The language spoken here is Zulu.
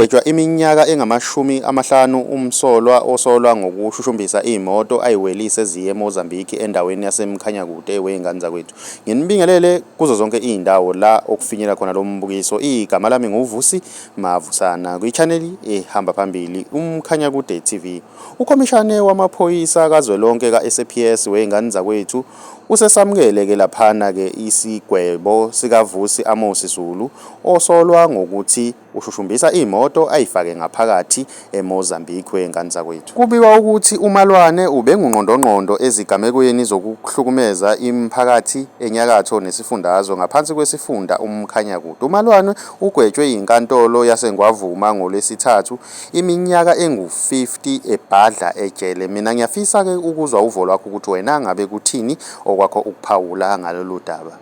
Kugwetshwa iminyaka engamashumi amahlanu umsolwa osolwa ngokushushumbisa imoto ayiwelise eziye eMozambique endaweni yaseMkhanyakude wey'ngane zakwethu. Nginibingelele kuzo zonke izindawo la okufinyela khona lo mbukiso. Igama lami nguVusi Mavusana kwi-channel ehamba phambili uMkhanya Kude TV. Ukhomishane wamaphoyisa kazwelonke ka-SAPS wey'ngane zakwethu usesamukele ke laphana ke isigwebo sikaVusi Amosi Zulu osolwa ngokuthi Ushushumbisa imoto ayifake ngaphakathi eMozambique wengane zakwethu. Kubikwa ukuthi uMalwane ubengungqondongqondo ezigamekweni zokuhlukumeza imiphakathi enyakatho nesifundazwe ngaphansi kwesifunda uMkhanyakude. UMalwane ugwetshwe yinkantolo yaseNgwavuma ngoLwesithathu iminyaka engu-50 ebhadla ejele. Mina ngiyafisa-ke ukuzwa uvo lwakho ukuthi wena ngabe kuthini okwakho ukuphawula ngalolu daba.